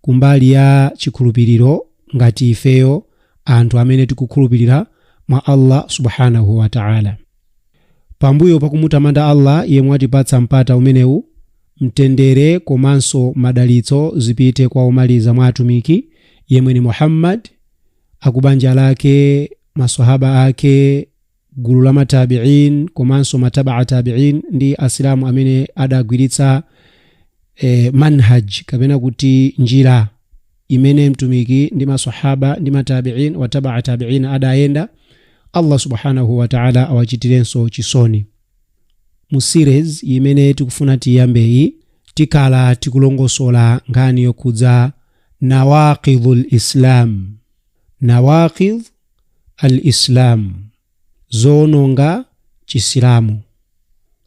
kumbali ya chikhulupiliro ngati ifeyo anthu amene tikukhulupilira mwa Allah Subhanahu wa Ta'ala. Pambuyo pakumutamanda Allah yemwe watipatsa mpata umenewu, mtendere komanso madalitso zipite kwa omaliza mwa atumiki yemwe ndi Muhammad, akubanja lake, maswahaba ake, Gulu la ma Taabi'in komanso ma Taba'a Taabi'in ndi Asilamu amene adagwiritsa Manhaj kapena kuti njira imene Mtumiki ndi ma Swahaba ndi ma Taabi'in wa Taba'a Taabi'in adayenda, Allah Subhaanahu wa Ta'ala awachitirenso chisoni. Mu series imene tikufuna tiyambeyi, tikhala tikulongosola nkhani yokhudza Nawaaqidhul Islam. Nawaqidh al-Islam, zoononga Chisilamu,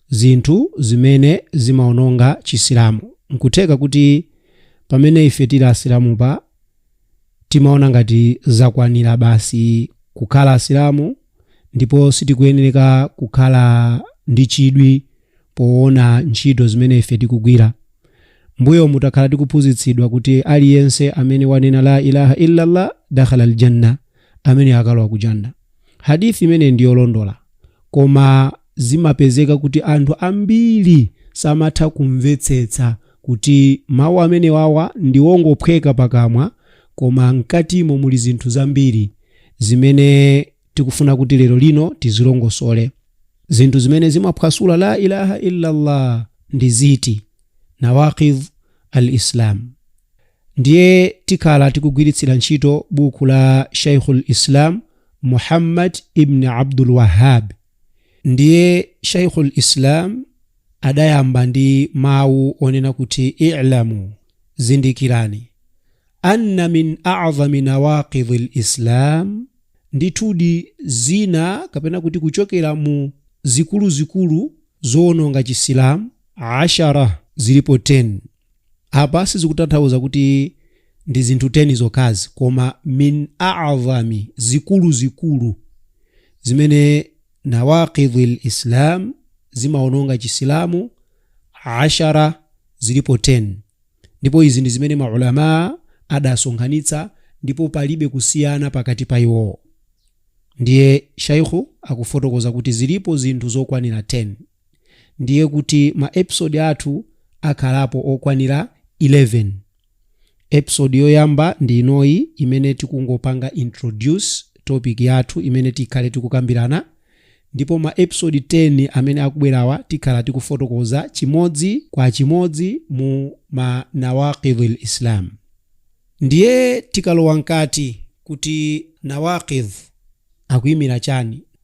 zinthu zimene zimaononga Chisilamu. Nkutheka kuti pamene ife tili Asilamu pa timaona ngati zakwanira basi kukhala Asilamu, ndipo sitikuyenereka kukhala ndi chidwi poona ntchito zimene ife tikugwira. Mbuyomu takhala tikuphunzitsidwa kuti aliyense amene wanena la ilaha illallah dakhala aljanna, ameneyo akalowa ku janna. Hadith imeneyi ndi yolondola, koma Zimapezeka kuti anthu ambiri samatha kumvetsetsa kuti mawu amenewawa ndi ongophweka pakamwa koma mkatimo muli zinthu zambiri zimene tikufuna kuti lero lino tizilongosole. Zinthu zimene zimaphwasula La ilaha illallah ndi ziti? Nawaqidh al-Islam. Ndiye tikhala tikugwiritsira ntchito buku la Shaykhul Islam Muhammad ibn Abdul Wahhab. ndiye shaikhul islam adayamba ndi mawu onena kuti i'lamu zindikirani anna min a'zami nawaqidhi lislam ndithudi zina kapena kuti kuchokera mu zikuluzikulu zowononga chisilamu ashara zilipo 10 Apa sizikutanthauza kuti ndi zinthu 10 zokhazi koma min a'zami zikuluzikulu zimene nawaqidhil Islam zimaononga Chisilamu ashara zilipo 10 ndipo izi ndi zimene maulamaa adasonkhanitsa ndipo palibe kusiyana pakati pa iwowo. Ndiye Shaikhu akufotokoza kuti zilipo zinthu zokwanira 10. ndiye kuti ma episode athu akhalapo okwanira 11. Episode yoyamba ndi inoyi imene tikungopanga introduce topic yathu imene tikhale tikukambirana ndipo ma episode 10 amene akubwerawa tikhala tikufotokoza chimodzi kwa chimodzi mu ma nawaqidhul islam. Ndiye tikalowa mkati kuti nawaqidh akuimira chani?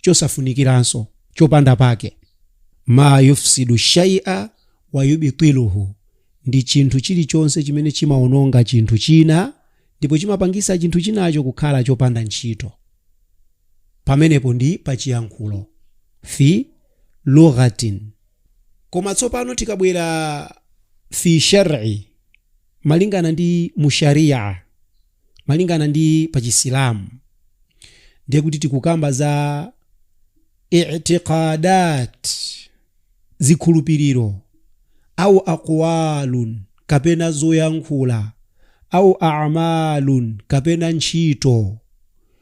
chosafunikiranso, chopanda pake. Ma yufsidu shay'a wa yubtiluhu, ndi chinthu chilichonse chimene chimaononga chinthu china ndipo chimapangitsa chinthu chinacho kukhala chopanda ntchito. Pamenepo ndi pa chiyankhulo. Fi lughatin. Koma tsopano tikabwera fi shar'i. malingana ndi mu shariah malingana ndi pa chisilamu ndiye kuti tikukamba za itiqadat zikhulupiriro au aqwalun kapena zoyankhula au a'malun kapena ntchito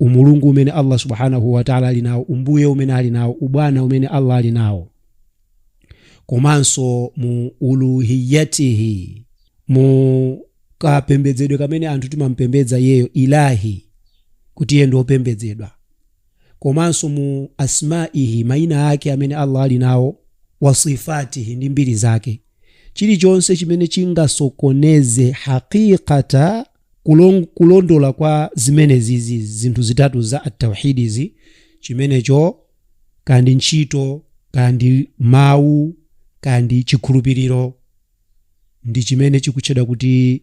umulungu umene Allah subhanahu wa ta'ala ali nawo umbuye umene ali nawo ubwana umene Allah ali nawo komanso mu uluhiyatihi mu kapembedzedwe kamene anthu timampembedza iyeyo ilahi kuti iye ndi opembedzedwa komanso mu asmaihi maina ake amene Allah ali nawo wasifatihi ndi mbiri zake chilichonse chimene chingasokoneze haqiqata kulondola kwa zimenezizi zinthu zitatu za atawhidizi chimenecho kaya ndi ntchito kaya ndi mawu kaya ndi chikhulupiriro ndi chimene chikutchedwa kuti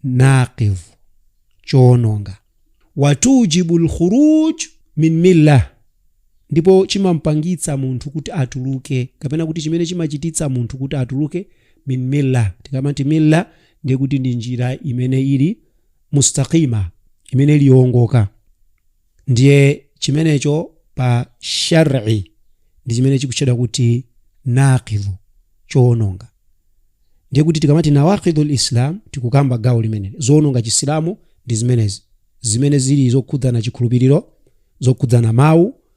naqidh choononga watujibu lkhuruj min millah ndipo chimampangitsa munthu kuti atuluke kapena kuti chimene chimachititsa munthu kuti atuluke min milla tikamati milla ndiye kuti ndi njira imene ili mustaqima imene ili yoongoka ndiye chimenecho pa shari ndi chimene chikutchedwa kuti naqidhu choononga ndiye kuti tikamati nawaqidhu lislam tikukamba gawo limene zoononga chisilamu ndi zimenezi zimene zili zokhudzana chikhulupiriro zokhudzana mawu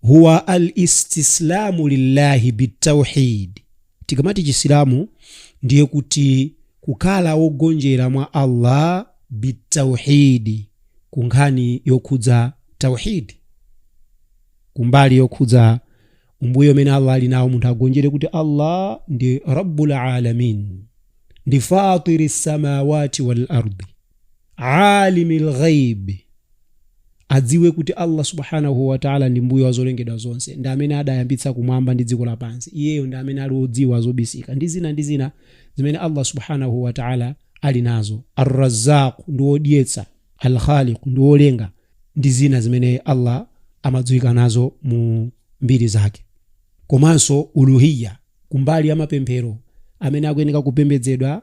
huwa al istislamu lillahi bitauhid tikamati chisilamu ndiye kuti kukhala wogonjera mwa allah bitauhidi ku nkhani yokhudza tauhidi kumbali yokhudza umbuye umene allah ali nawo munthu agonjere kuti allah ndi rabbul alamin ndi fatiri samawati wal ardi alimi lghaibi adziwe kuti allah subhanahu wataala ndi mbuye wa zolengedwa zonse ndi amene adayambitsa kumwamba ndi dziko lapansi iyeyo ndi amene ali odziwa zobisika ndi zina ndi zina zimene allah subhanahu wataala ali nazo arrazaku ndi wodyetsa alkhaliku ndi wolenga ndi zina zimene allah amadziwika nazo mu mbiri zake komanso uluhiya kumbali ya mapemphero amene akuyeneka kupembedzedwa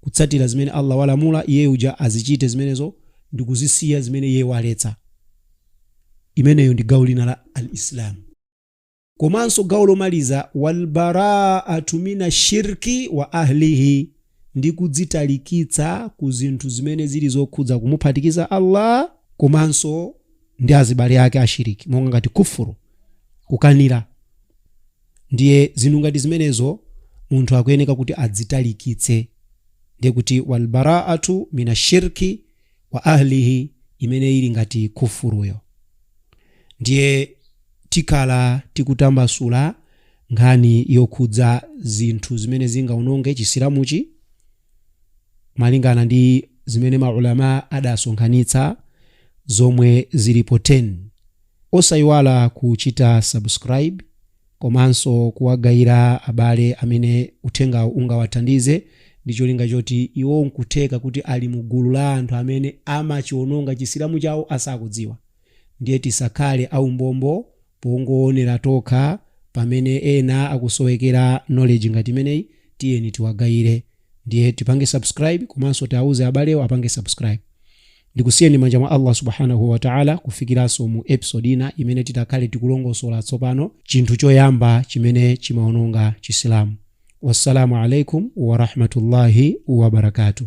kutsatira zimene Allah walamula iye uja azichite zimenezo ndikuzisiya zimene iye waletsa. Imeneyo ndi gawo lina la al-Islam. Komanso gawo lomaliza walbaraatu mina shirki wa ahlihi ndi kudzitalikitsa ku zinthu zimene zili zokhudza kumuphatikiza Allah komanso ndi azibale ake ashiriki monga ngati kufuru kukanira Ndiye zinthu ngati zimenezo munthu akuyeneka kuti adzitalikitse. Ndiye kuti wal baraatu mina shirki wa ahlihi imene ili ngati kufuruyo. Ndiye tikhala tikutambasula nkhani yokhudza zinthu zimene zingaononge Chisilamuchi. malingana ndi zimene ma Ulamaa adasonkhanitsa zomwe zilipo 10. Osaiwala kuchita subscribe komanso kuwagayira abale amene uthengawu ungawathandize ndi cholinga choti iwo nkutheka kuti ali mu gulu la anthu amene amachiononga Chisilamu chawo asakudziwa. Ndiye tisakhale aumbombo pongoonera tokha pamene ena akusowekera knowledge ngati imeneyi, tiyeni tiwagayire. Ndiye tipange subscribe komanso tiauze abalewo apange subscribe. Ndikusiyeni m'manja mwa Allah Subhanahu wa Ta'ala kufikiranso mu episode ina imene titakhale tikulongosola tsopano chinthu choyamba chimene chimaononga Chisilamu. Wassalaamu alaikum Warahmatullahi Wabarakatuh.